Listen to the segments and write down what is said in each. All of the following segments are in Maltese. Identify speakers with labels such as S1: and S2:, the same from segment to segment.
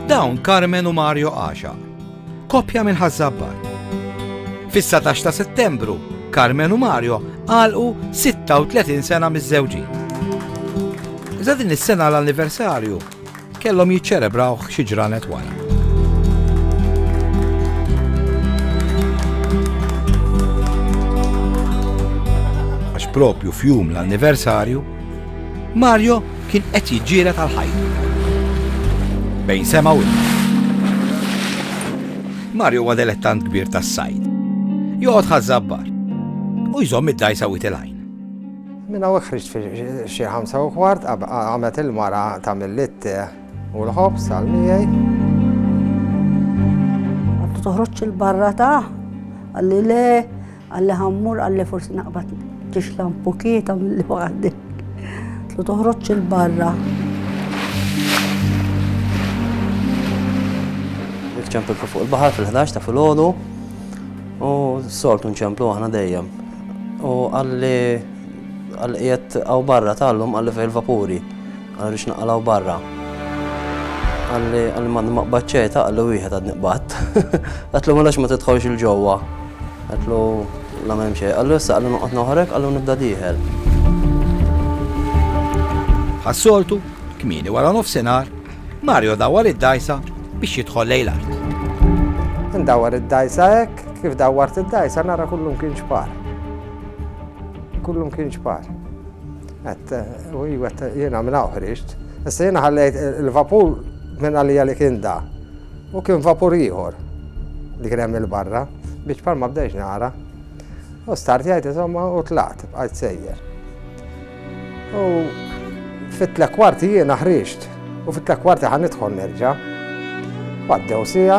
S1: Dawn Carmen u Mario Għaxa. Kopja minn Ħazzabbar. Fis-19 ta' Settembru, Carmen u Mario għalqu 36 sena miż-żewġin. Iżda din is-sena l-anniversarju kellhom jiċċelebrawh xi ġranet wara. Għax propju fjum l-anniversarju, Mario Kien qed jiġġieled għal ħajtu. Bejn sema u ilma. Mario huwa delettant kbir tas-sajd. Joqgħod ħaż-żabbar. U jżomm id-dgħajsa wit il-għajn. Minn hawn
S2: ħriġt fil-xi ħamsa u kwart qamet il-mara tagħmel litte u l-ħobż għal miegħi. Għandu
S3: toħroġ il-barra ta' għalli le Għalli ħammur, għalli forsi naqbad tixla mpukieta mill-li waħdi. Tlu toħroġ il-barra.
S4: Nċemplu fuq il-bahar fil-11 ta' fil-ħodu u s-soltu nċemplu aħna dejjem. U għalli għal-qiet għaw barra tal-lum għalli fil-vapuri. Għal rridx naqalgħu barra. Qalli qalli m'għadni ma qbadt xejn, taqli wieħed għadni qbadt. Għedtlu mela għax ma tidħolx 'il ġewwa. Għedtlu la m'hemm xejn. Qallu issa qalli noqgħod noħreg, qallu nibda dieħel.
S1: Bħas-soltu, kmieni wara nofsinhar, Mario dawwar id-dgħajsa biex jidħol lejn l-art.
S2: Indawwar id-dgħajsa hekk, kif dawwart id-dgħajsa nara kullum kien ġbar. Kullum kien ġbar. Għedt, u hi għedt, jiena minn hawn ħriġt. Issa jiena ħallejt il-vapur minn għalija li kien da. U kien vapur ieħor li kien hemm il-barra biex bħal ma bdejx nara. U start jgħid insomma u tlaqt bqajt sejjer. U fit-tlek kwarti jiena ħriġt u fit-tlek kwarti ħan nidħol nerġa'. Għaddew sija,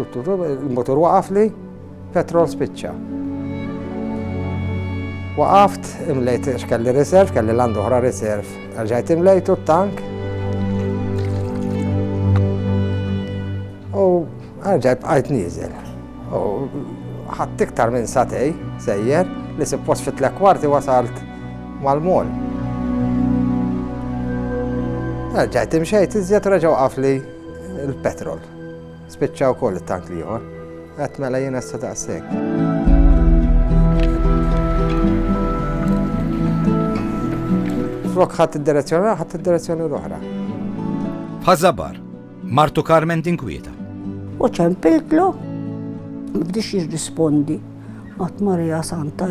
S2: Il-mutur waqafli, petrol spiċċa. Waqaft, imlejt x'kelli riserv, kelli l-għandu oħra riserv. Għalġajt imlejtu t-tank. U għalġajt bqajt nizel. U ħadd iktar minn satej, sejjer, li suppost fit kwarti wasalt mal-mol. Għalġajt imxejt iżjed reġaw għafli il-petrol. Spiċċa wkoll it-tank l-ieħor. Għat mela jien issa daqshekk. Flok ħadd id-direzzjoni ħadd id-direzzjoni l-oħra.
S1: Ħażabar, Martu Carmen tinkwieta. U
S3: ċempiltlu, bdiex jirrispondi, għat Marija Santa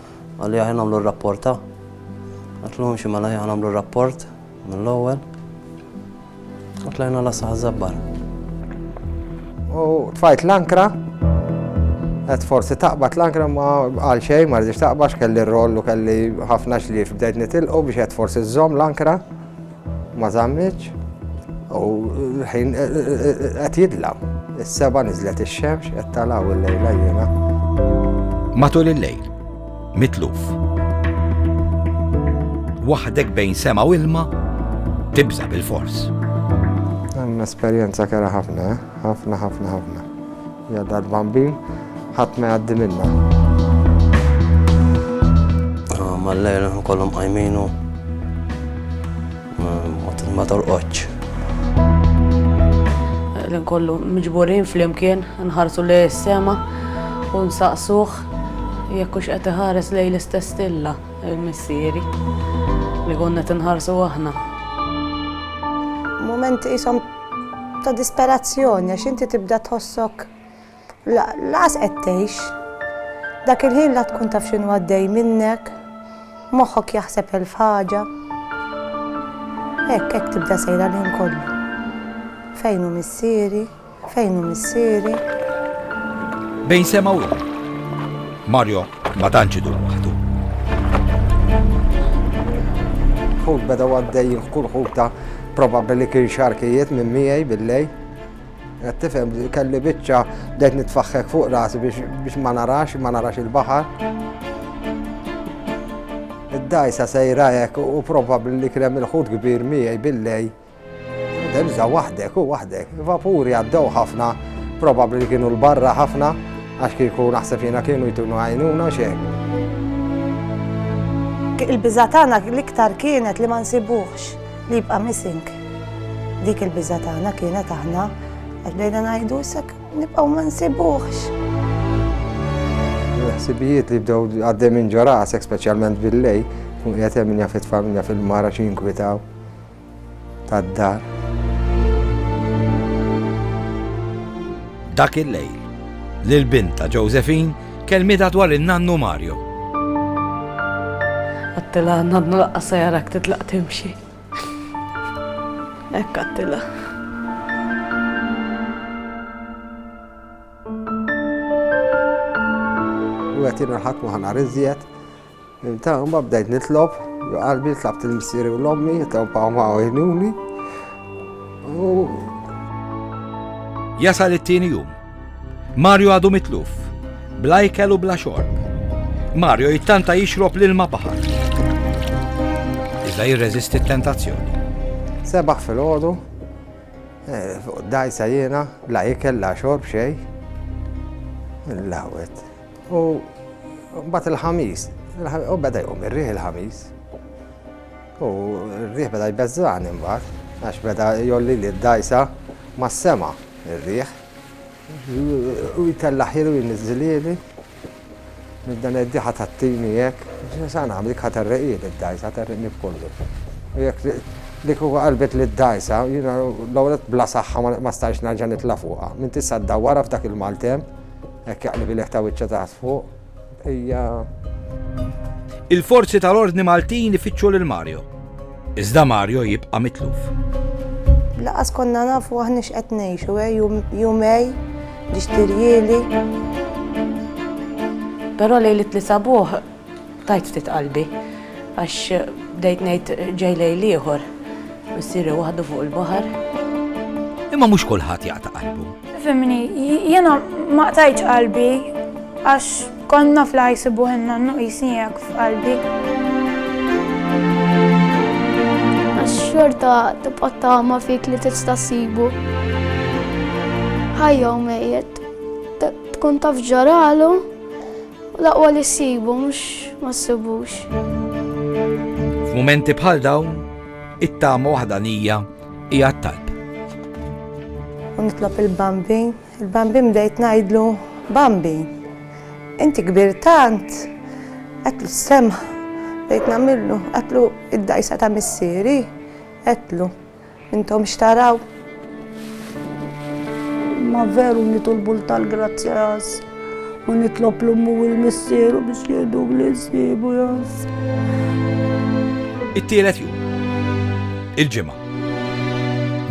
S4: Qal li aħjar nagħmlu r-rapport ta'. Għidtlu imxi mela aħjar nagħmlu r-rapport mill-ewwel. U tlajna la saħ żabbar.
S2: U tfajt l-ankra, għed forsi taqbad l-ankra ma għal xej, ma rridx taqbax kelli r-roll u kelli ħafna xlif bdejt nitilqu biex għed forsi z-zom l-ankra. Ma żammitx u l-ħin qed jidla. Is-seba' niżlet ix-xemx qed tala' u llejla jiena.
S1: Matul il-lejl, mitluf. Waħdek bejn sema u ilma, tibża' bilfors.
S2: Esperjenza kerha ħafna, ħafna, ħafna, ħafna. Ja dal-bambin, ħadd ma jgħaddi minna.
S4: Ah, mal-lejl kollhom qajminu ma torqodx.
S5: L-in kollu miġburin fl-imkien, nħarsu li s-sema u nsaqsuħ jekkux qed iħares lej l-istess stilla il-missieri li konna tinħarsu aħna.
S3: Moment isom ta' disperazzjoni għax inti tibda tħossok laqas qed tgħix. Dak il-ħin la tkun taf x'inhu għaddej minnek, moħħok jaħseb elf ħaġa. Hekk
S6: hekk tibda sejra l-ħin kollu. Fejn hu missieri, fejn hu missieri.
S1: Bejn sema u Mario Ma tantx idum waħdu.
S2: Ħut beda għaddej jilħqu l-ħuta probabbli li kien xarkijiet minn miegħi billej. Qed tifhem kelli biċċa bdejt nitfaħħek fuq rasi biex ma narax, ma narax il-baħar. Id-dajsa sejra hekk u probabbli li kien hemm il-ħut kbir miegħi billej Terza waħdek u waħdek. Vapuri għaddew ħafna, probabbli li kienu l-barra ħafna, għax kieku naħseb jiena kienu jtunu għajnuna xejn.
S6: Il-biżatana l-iktar kienet li ma nsibuħx li jibqa' missing. Dik il-biżatana kienet aħna għaddejna ngħidu sak nibqgħu ma nsibuħx.
S2: Ħsibijiet li bdew għaddej minn ġorasek, speċjalment bil-lej, kun qiegħed hemm min jaf it-familja fil-mara xi jinkwitaw. tad-dar.
S1: Dak il-lejl, l-bint ta' Josephine kelmitha dwar in-nannu Mario.
S5: Għattilha nannu laqqas se jarak titlaq timxi. Hekk għattilha.
S2: U qed jingħalħaq ma' ħanar iżjed Imtawba bdejt nitlob, jo qalbi tlabt il-missieri u l-ommi, jitawpaw ma' għajnuni.
S1: Jasal it-tieni jum. Mario għadu mitluf, bla ikel u bla xorb. Mario jittanta jixrob l-ilma baħar. Iżda jirreżisti t-tentazzjoni. Sebaħ
S2: fil-ħodu, eh, dajsa jiena, la ikel, la xorb, xej. Il-lawet. U mbagħad il-ħamis, u beda jqum ir-riħ il-ħamis. U r-riħ beda jbeżżani mbagħad, għax beda jolli li d-dajsa mas-sema ir-riħ. U jtellaħilu jniżżilieli minn dan id-diħa tat-tini jekk, sa nagħmel jekk terreqili d-dajsa, terreqni b'kollu. U jekk li kuku qalbet li d-dajsa, jiena l-ewwel bla saħħa ma stajx nerġa' nitla' fuqha. Minn tista' ddawwarha f'dak il-maltemp, Hekk jaqlibilek ta' wiċċha taħt fuq, hija.
S1: Il-forzi tal-ordni Maltin ifittxu lil Mario. Iżda Mario jibqa' mitluf. Lanqas
S6: konna nafu aħna x'qed ngħixu, eh, jumej biex tirjieli.
S5: Però lejl it-Tliet sabuħ Tajt ftit qalbi għax bdejt ngħid ġej lejl ieħor, missieri waħdu fuq il-baħar. Imma
S1: mhux kulħadd jaqta' qalbu. Fimni,
S7: jiena ma qtajtx qalbi għax konna fl-ħajsi buħinna n-nuqisnijak f'qalbi.
S8: Għax-xorta tibqa' tama fik li tista' sibu. Ħajja u mejjet, tkun taf ġaralu, U l-aqwa li ssibu mhux ma ssibux. F'mumenti
S1: bħal dawn, it-tama waħdanija hija t-talb.
S6: U nitlob il-Bambi, il-Bambi mdejt ngħidlu, Bambi, inti kbir tant, għetlu s-semħ, bdejt namillu, għetlu id-dajsa ta' missieri, għetlu. Intom x'taraw?
S3: Ma veru nitolbu l-tal-grazzja jas. U nitlob l-ummu u l-missieru biex jgħidu li jsibu jas.
S1: It-tielet jum. Il-ġimgħa.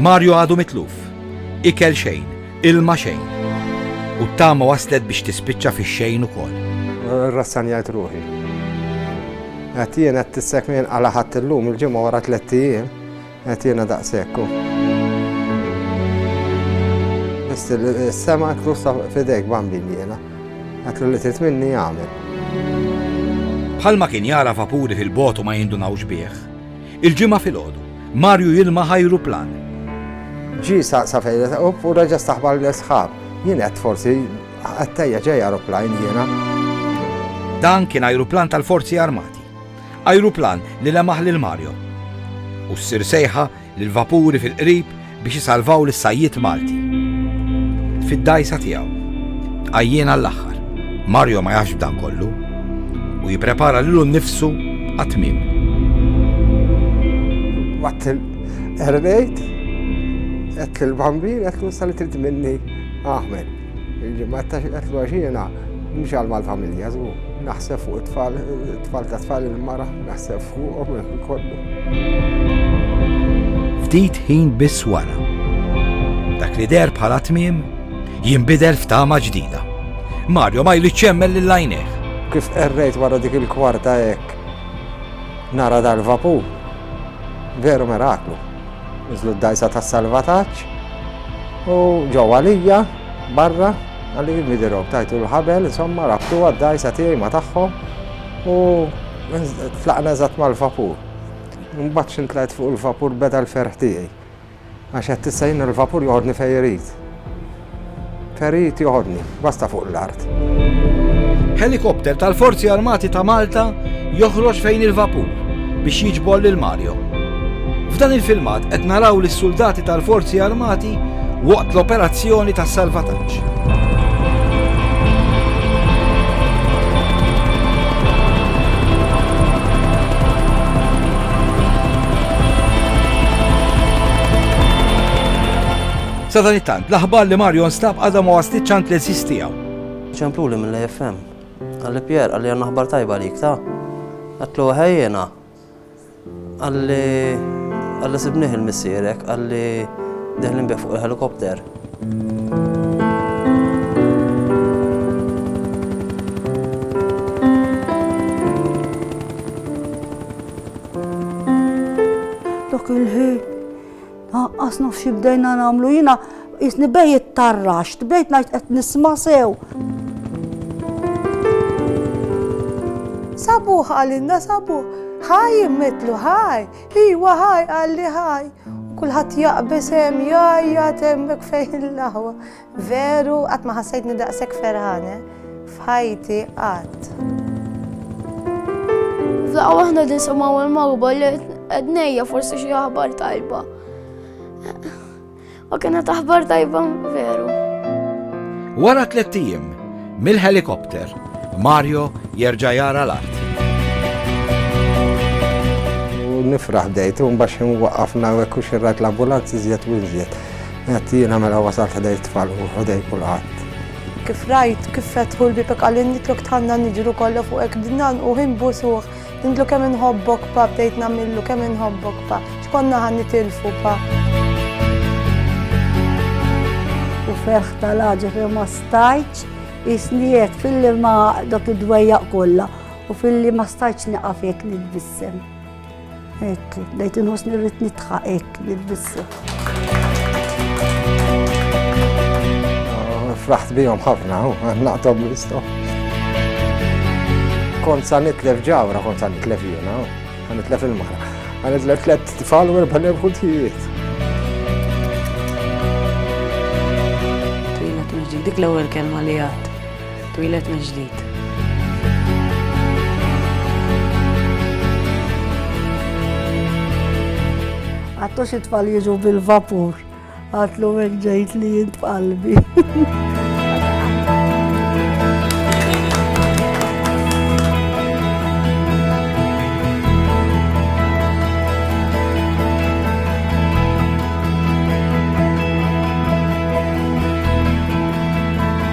S1: Mario għadu mitluf. Ikel xejn, ilma xejn. U t-tama waslet biex tispiċċa fix-xejn ukoll. Rassanjajt
S2: ruħi. Għatien għat tissek minn għala ħadd illum il-ġimgħa wara tliet ijiem. Qed jiena daqshekk hu. Biss is-sema qed nussa f'idejk bambin jiena. Dak li trid minni jagħmel.
S1: Bħalma kien jara vapuri fil-bogħod u ma jindunawx bih. Il-ġimgħa filgħodu, Marju jilma ħajru plan. Ġi
S2: sa fejn u reġa' staħbar l-isħab. Jien qed forsi għattejja ġej aeroplane jiena.
S1: Dan kien ajruplan tal-forzi armati. Ajruplan li lemaħ lil Mario. U ssir sejħa lil vapuri fil-qrib biex isalvaw lis-sajjied Malti. Fid-dajsa tiegħu. Għajjien għall-aħħar. Mario ma jafx b'dan kollu u jipprepara lilu nnifsu għat-tmiem.
S2: Watt il-erbejt, qed il-bambin, qed l-ussa li trid minni aħmed. Il-ġimgħat ta' x'qed għaxina mhux għal mal-familja żgur. Naħseb fuq it-tfal, it-tfal ta' tfal il-mara, naħseb fuqhom kollu.
S1: Ftit ħin biss wara. Dak li der bħala tmiem jinbidel f'tama ġdida. Mario ma jridx jemmel lil għajnejh. Kif qerrejt
S2: wara dik il-kwarta hekk nara dal-vapur. Veru meraklu. Niżlu d-dgħajsa tas-salvataġġ u ġew għalija barra għalli midirhom tajtu l-ħabel, insomma rabtu għad-dgħajsa tiegħi ma tagħhom u tlaqna eżatt mal-vapur. Mbagħad xintlajt fuq il-vapur beda l-ferħ tiegħi. Għax qed tista' jien il-vapur joħodni fejn irid. Terit joħodni, basta fuq l-art.
S1: Helikopter tal-Forzi Armati ta' Malta joħroġ fejn il-vapur biex jiġbor lil Mario. F'dan il-filmat qed naraw lis-suldati tal-Forzi Armati waqt l-operazzjoni tas-salvataġġ. Sadanittant, l-aħbar li Mario nstab għadha ma waslitx għand l-għeżież tiegħu. Ċempluli
S4: mill-AFM. Għalli Pier, għalli għandna aħbar tajba għalik ta' għatlu ħajjena. Għalli għalli sibniħ il-missierek, għalli deħlin bih fuq il-helikopter.
S3: Dak il-ħin Aqqas naf xi bdejna nagħmlu jiena jisni bej it-tarrax, bdejt ngħid qed nisma' sew.
S6: Sabuh għalinna sabuh, ħaj immetlu ħaj, iwa ħaj għalli ħaj. Kulħadd jaqbes hemm jajja temmek fejn l-aħwa. Veru qatt ma ħassejtni daqshekk ferħane f'ħajti qatt.
S8: F'daqqa waħda nisimgħu l-magħruba li qed ngħejja forsi xi aħbar tajba. U kienet aħbar tajba veru.
S1: Wara tliet ijiem mill-helikopter, Mario jerġa' jara l-art.
S2: Nifraħ bdejt, un baxin waqafna u ekku xirrat l-ambulanzi zjed u zjed. Għedt jiena mela wasalt ħdej t-tfal u ħdej kulħadd. Kif rajt
S6: kif fetħu l-bieb hekk għalli nitlok tħanna niġru kollha fuqek bdejt ngħannquh inbusuh nindlu kemm inħobbok pa bdejt nagħmillu kemm inħobbok pa x'konna ħa nitilfu pa.
S3: U ferħ tal-aġa fejn ma stajtx jisni hekk filli ma dok id-dwejjaq kollha u filli ma stajtx nieqaf hekk nitbissem. Ek, bdejt inħossni rrid nitħaq hekk nilbisha.
S2: Ah, fraħt bihom ħafna, naqtom l-istof. Kont sa nitlef ġawra, kont sa nitlef jiena, nitlef il-mara. Għanitlef tlet tfal u erba' nebħu tijiet.
S5: Twila tuġi, dik l-ewwel kelma li għad. Twilet mill-ġdid.
S3: Għattu xi tfal jiġu bil-vapur. Għatlu hekk ġejt li jint qalbi.